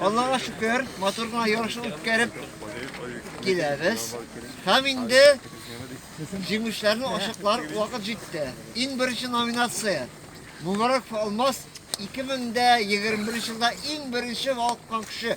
Аллага шөкер, матур гына ярыш үткәреп киләбез. Һәм инде җиңүчеләрне ачыклар вакыт җитте. Иң беренче номинация Мубарак Алмаз 2021 елда иң беренче валкан кеше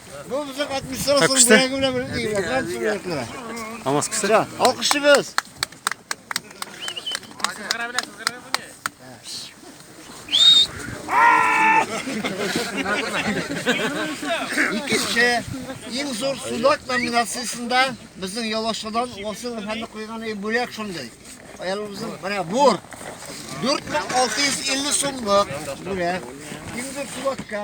Бу безнең администрациянең бүләге белән бергә грант бүләкләре. Алмаз кешесе. Ша, алкышыбыз. Сызгыра белә, сызгыра бу не? Икенче иң зур судак номинациясендә безнең ялашадан Васил әфәнде куйган бүләк шундый. Аялыбызның менә бур. 4650 сумлык бүләк. Иң зур судакка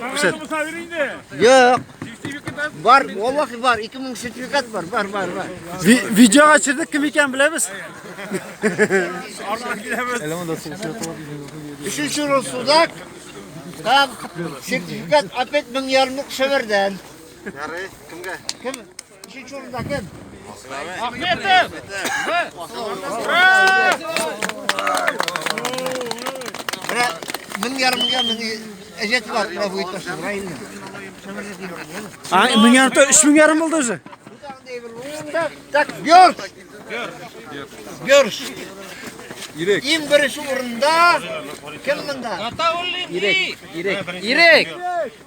Күрсәт. Юк. Бар, валлахи бар, 2000 сертификат бар, бар, бар, бар. Видеога төшердек кем икәнен беләбез. Арнан киләбез. Өченче рус судак. Там сертификат опять 1000 ярымлык шәвәрдән. Ярый, кемгә? Кем? Мин ярымга мин әҗәт бар, бу буй ташын, райны. А, мин ярымта 3000 ярым булды уже. Так, бёрш. Бёрш. Ирек. Иң беренче урында кем монда? Ирек. Ирек. Ирек.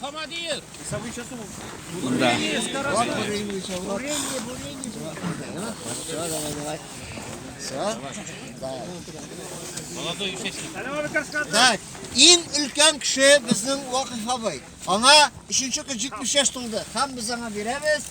Хамадиев! Самый часу. Да. Так, иң өлкән кеше безнең Вакыйф абый. Аңа 3 көн 70 яшь тулды. Һәм без аңа бирәбез.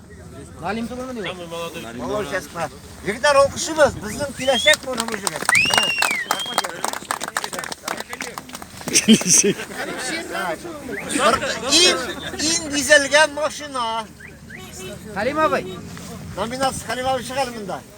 Галим түгелме ди? Самый молодой. Молодец, брат. Егетләр алкышыбыз, безнең киләчәк моны бу җегет. Иң иң бизәлгән машина. Халим абый. Номинация Халим абый чыгар монда.